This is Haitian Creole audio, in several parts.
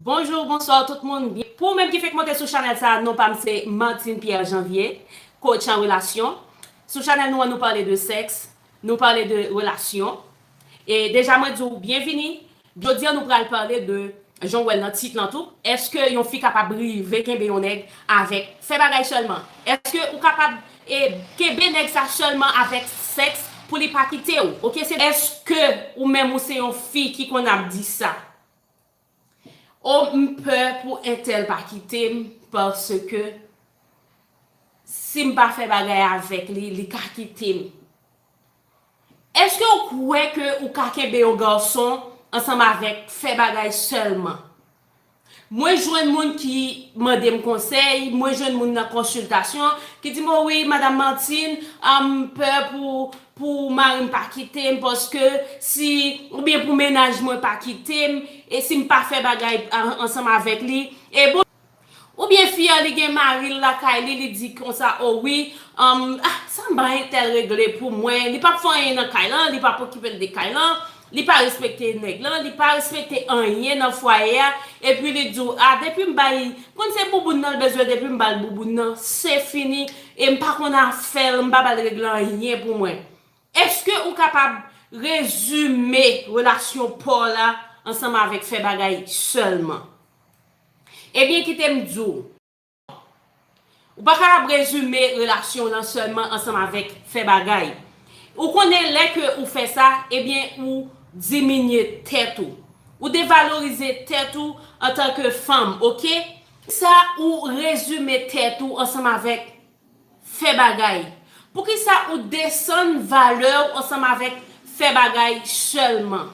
Bonjour bonsoir tout moun, pou ou menm ki fenk monte sou chanèl sa non pam se Martine Pierre Janvier, coach an relasyon, sou chanèl nou an nou pale de sèks, nou pale de relasyon, e deja mwen di w byenvini, jodi an nou pral pale de jan w wèl nan tit lan tou, èske yon fi kapab rive kenbe yon nèg avèk fè bagay sèlman, èske ou kapab e kenbe nèg sa sèlman avèk sèks pou li pa kite w ok se. Èske ou menm ou se yon fi ki konn ap di sa? Oh m pè pou entèl pa kite m paske si m pa fè bagay avèk li li ka kite m Eske w kwè ke ou ka kenbe yon gason ansanm avèk fè bagay sèlman? Mwen jwenn moun ki mande m konsèy, mwen jwenn moun nan konsiltasyon ki di m o wi madam Martine m pè pou pou mari m pa kite m paske si oubyen pou mennaj mwen pa kite m e si m pa fè bagay ansanm avèk li e bon oubyen fi a li gen mari l lakay li li di konsa o wi humm ah sa m bay entèl regle pou mwen li pap fè anyen nan kay lan li pap okipe l de kay lan Li pa respekte nèg lan, li pa respekte anyen nan fwaye a, epi li di w a depi m bay, m konn se bouboun nan l bezwen depi m ba l bouboun nan se fini e m pa konn afè l, m pa ba l regle anyen pou mwen. Eske ou kapab rezime relasyon pa w la ansanm avèk fè bagay sèlman? Ebyen kite m di w. Ou pa kapab rezime relasyon w lan sèlman ansanm avèk fè bagay. Ou konnen lè ke ou fè sa, ebyen ou diminye tèt ou. Ou devalorize tèt ou antanke fanm, ok? Sa ou rezime tèt ou ansanm avèk. Fè bagay. Poukisa ou desann valè ou ansanm avèk fè bagay sèlman?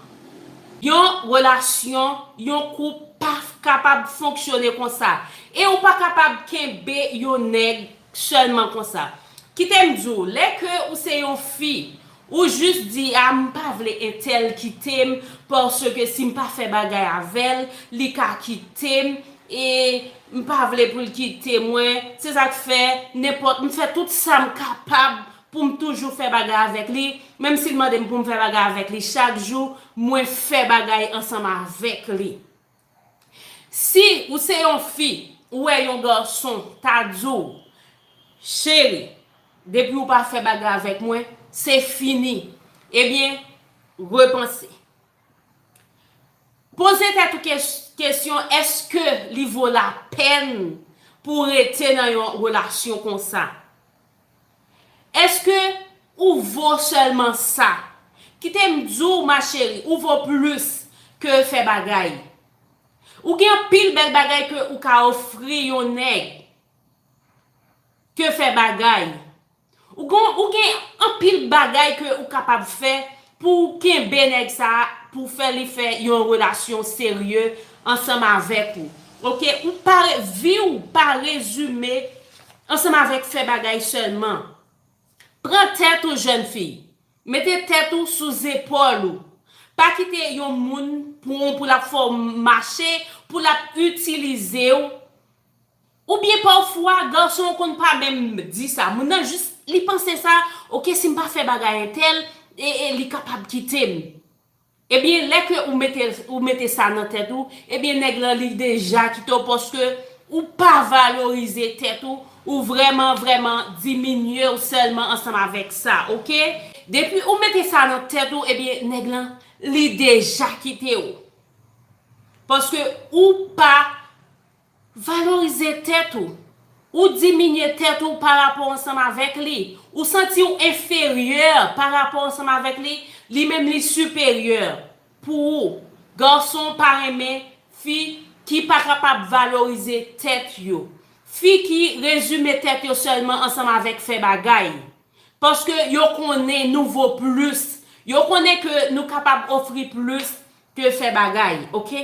Yon relasyon, yon koup pa kapab fonksyone konsa. E ou pa kapab kenbe yon nèg sèlman konsa. Kite m di w, lè ke ou se yon fi, Ou jus di a m pa vle entèl kite m paske si m pa fè bagay avè l li ka kite m e m pa vle pou l kite mwen se sa k fè nenpòt m fè tout sa m kapab pou m toujou fè bagay avèk li menm si l mande m pou m fè bagay avèk li chak jou mwen fè bagay ansanm avèk li. Si ou se yon fi ou wè yon garçon ta di w cheri depi ou pa fè bagay avèk mwen se fini ebyen repanse poze tèt ou kesyon eske li vo la pèn pou rete nan yon relasyon konsa. Eske ou vo selman sa. Kite m di w ma chérie ou vo plus ke fè bagay. Ou gen anpil bèl bagay ke ou ka ofri yon nèg ke fè bagay. Ou gen anpil bagay ke ou kapab fè Pouw kenbe nèg sa pouw fè li fè yon relasyon serye ansanm avèk ou ok ou pa viw pa rezime ansanm avèk fè bagay sèlman pran tèt ou jèn fi mete tèt ou sou zepòl ou pa kite yon moun pranw pou lap fèw mache pou lap itilizew Ou byen pafwa gason konn pa menm di sa moun nan jis li panse sa ok sim pa fè bagay entèl ee li kapab kitem ebyen lè ke ou mete ou mete sa nan tèt ou ebyen nèg lan li deja kite w paske ou pa valorize tèt ou ou vrèman vrèman diminye w sèlman ansanm avèk sa ok depi ou mete sa nan tèt ou ebyen nèg lan li deja kite w paske ou pa Valorize tèt ou. Ou diminye tèt ou pa rapò ansanm avèk li. Ou santi ou enferyè pa rapò ansanm avèk li, li menm li siperyè pou ou. Gason pa renmen fi ki pa kapab valorize tèt yo. Fi ki rezime tèt yo sèlman ansanm avèk fè bagay. Paske yo konnen nou vo plis. Yo konnen ke nou kapab ofri plis ke fè bagay. Ok.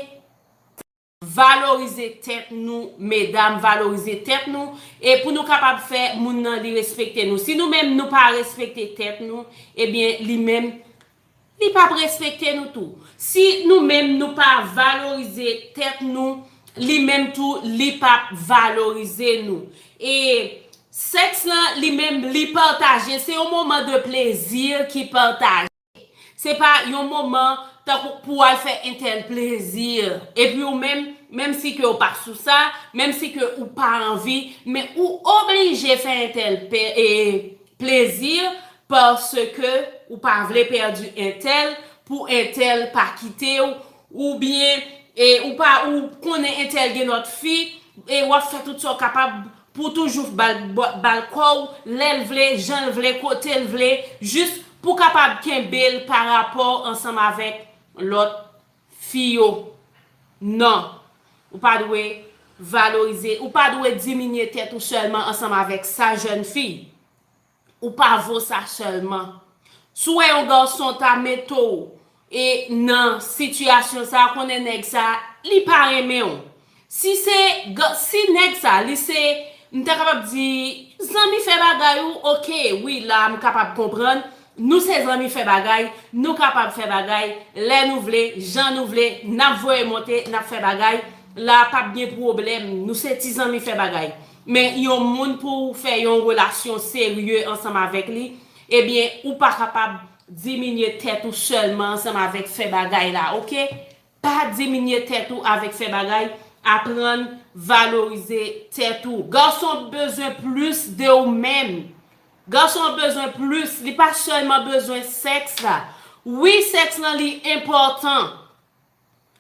Valorize tèt nou medam valorize tèt nou e pou nou kapab fè moun nan li respekte nou si nou menm nou pa respekte tèt nou ebyen li menm li pap respekte nou tou si nou menm nou pa valorize tèt nou li menm tou li pap valorize nou e sèks lan li menm li pataje se yon moman de plezi ki pataje. Se pa yon moman tankou pou w al fè entèl plezi, epi ou menm, menm si ke ou pa sou sa, menm si ke ou pa anvi, men ou oblije fè entèl plezi paske ou pa vle pèdi entèl pou entèl pa kite w, oubyen ou konnen entèl gen lòt fi e w ap fè tout sa w kapab Pou toujou f bal bal kòw lèl vle janl vle kotel vle jus pou kapab kenbel pa rapòw ansanm avèk lòt fi yo nan ou pa dwe valorize ou pa dwe diminye tèt ou sèlman ansanm avèk sa jèn fi Ou pa vo sa selman. Tuwe yon garçon ta mete w e nan situation sa konnen neg sa li pa renmen w. Si se si neg sa li se m ta kapab di zanmi fè bagay ou ok wi la m kapab konprann nou se zanmi fè bagay nou kapab fè bagay lè nou vle jan nou vle nap voye monte nap fè bagay la pap gen pwoblem nou se ti zanmi fè bagay. Men yon moun pouw fè yon relasyon serye ansanm avèk li, ebyen ou pa kapab diminye tèt ou sèlman ansanm avèk fè bagay la ok, pa diminye tèt ou avèk fè bagay, aprann valorize tèt ou, gason bezwen plis de ou menm, gason an bezwen plis, li pa sèlman bezwen sèks la, wi sèks lan li enpòtan,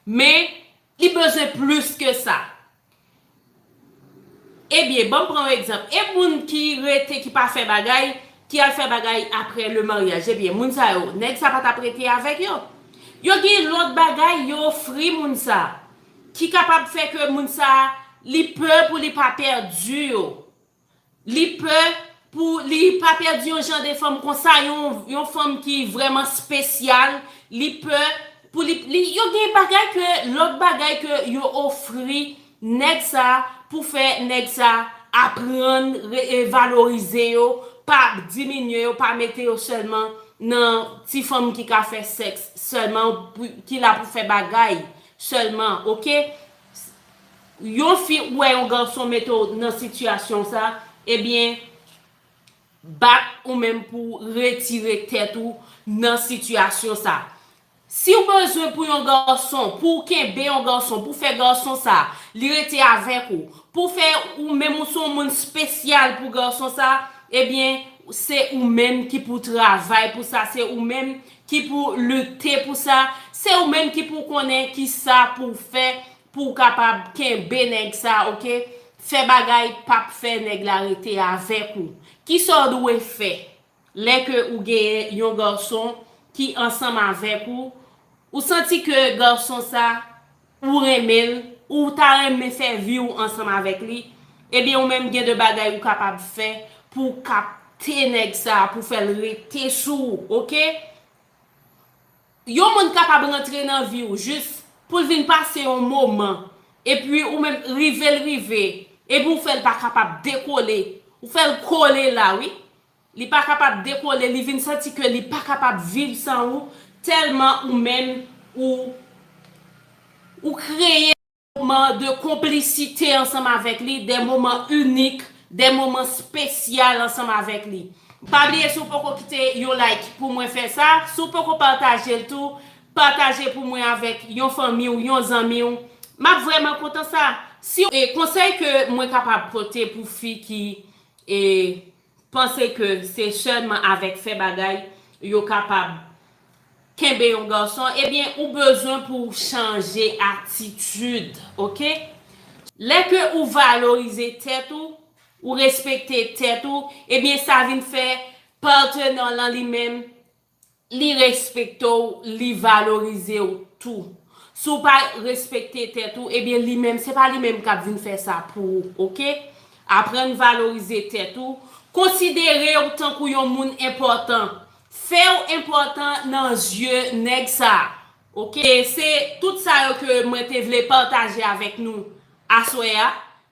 Men, li bezwen plis ke sa. Ebyen, banm pran yon egzanp. E moun ki rete, ki pa fè bagay, ki al fè bagay apre le maryaj? Ebyen, moun sa yo, nèg sa pa t ap rete avèk yo? Yo gen lòt bagay yo ofri moun sa, ki kapab fè ke moun sa, li pè pou li pa pèdi yo. Li pè Pou li pa pèdi yon jan de fanm konsa yon fanm ki vrèman spesyal li pè Pou li yo gen bagay ke lòt bagay ke yo ofri nèg sa Pou fè nèg sa aprann valorize yo pa diminye yo pa mete yo sèlman nan ti fanm ki ka fè sèks sèlman ki la Pou fè bagay sèlman ok. Yon fi ou wè yon garçon mete w nan sitiyasyon sa ebyen bat ou menm pou w retire tèt ou nan sitiyasyon sa si w bezwen pou yon garçon pou w kenbe yon garçon pou w fè garçon sa li rete avèk ou pou w fè ou menm ou se yon moun spesyal pou garçon sa ebyen se ou menm ki pou w travay pou sa se ou menm ki pou w lite pou sa se ou menm ki pou w konnen kisa pou w fè Pou w kapab kenbe nèg sa ok. Fè bagay pap fè nèg la rete avèk ou. Kisa w dwe fè lè ke ou genyen yon garçon ki ansanm avèk ou, ou santi ke garçon sa ou renmen l, ou ta renmen fè vi w ansanm avèk li, ebyen ou menm gen de bagay ou kapab fè pou w kapte nèg sa pou fè l rete sou ou ok. Yon moun kapab rantre nan vi w jis pou l vin pase yon moman epi ou menm rive l rive epi ou fè l pa kapab dekole ou fè l kole la wi li pa kapab dekole li vin santi ke li pa kapab viv san ou tèlman ou menm ou ou kreye moman de konplisite ansanm avèk li, de moman inik, de moman spesyal ansanm avèk li. Pa bliye si w poko kite yon like pou mwen fè sa, si w poko pataje l tou, pataje pou mwen avèk yon fanmi w, yon zanmi w, m ap vrèman kontan sa. Si w. Konsèy ke mwen kapab pote pou fi ki. panse ke se sèlman avèk fè bagay yo kapab kenbe yon gason ebyen ou bezwen pou w chanje atitid ok lè ke ou valorize tèt ou ou respekte tèt ou ebyen sa vin fè partner w lan li menm Li respekte w, li valorize w tou. Si w pa respekte tèt ou, ebyen li menm, se pa li menm k ap vin fè sa pou ou, ok? Aprann valorize tèt ou, konsidere w tankou yon moun enpòtan, fè w enpòtan nan zye nèg sa a, ok? Se tout sa yo ke mwen te vle pataje avèk nou aswè a.